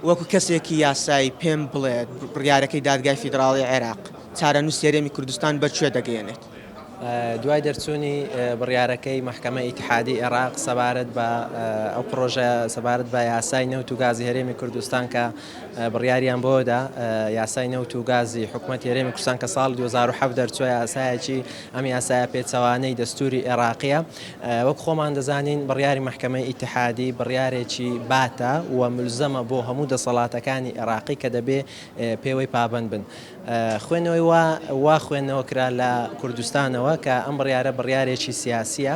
وەکو کەسێکی یاسایی پێم بڵێت بڕیارەکەی دادگای فیدراڵی عێراق چارەنوسی هەرێمی کوردستان بەر کوێ دەگەیەنێت؟ دوای دەرچوونی بڕیارەکەی مەحکەمەی ئیتحادی عێراق سەبارەت بە ئەو پڕۆژە سەبارەت بە یاسای نەوت و گازی هەرێمی کوردستان کە بڕیاریان بۆدا یاسای نەوت و گازی حکوومەت هەرێمی کوردستان کە ساڵ 2007 دەرچووە یاسایەکی ئەم یاسایە پێچەوانەی دەستوری عێراقیە وەک خۆمان دەزانین بڕیاری مەحکەمەی ئیتحادی بڕیارێکی باتە و ملزەمە بۆ هەموو دەسەڵاتەکانی ئێراقی کە دەبێ پێوەی پابەند بن. خوێنەوەی وا وا خوێندنەوە کرا لە کوردستانەوە کە ئەم بڕیارە بڕیارێکی سیاسییە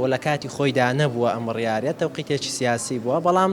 و لە کاتی خۆیدا نەبووە ئەم بڕیارە تەوقیتێکی سیاسی بووە بەڵام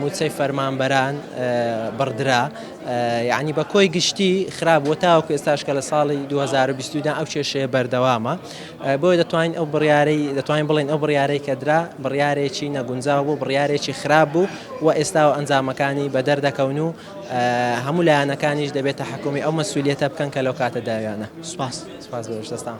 مووچەی فەرمانبەران بڕدرا، یەعنی بە کۆی گشتی خراپ بووە، تاوەکو ئێستاش کە لە ساڵی دوو هەزار و بیست و دوو دا ئەو کێشەیە بەردەوامە، بۆیە دەتوانین ئەو بڕیارەی دەتوانین بڵێین ئەو بڕیارەی کە درا بڕیارێکی نەگونجاو بوو، بڕیارێکی خراپ بوو و ئێستا و ئەنجامەکانی بە دەر دەکەون و هەموو لایەنەکانیش دەبێت تەحەکومی ئەو مەسئولیەتە بکەن کە لەو کاتە داویانە. سوپاس.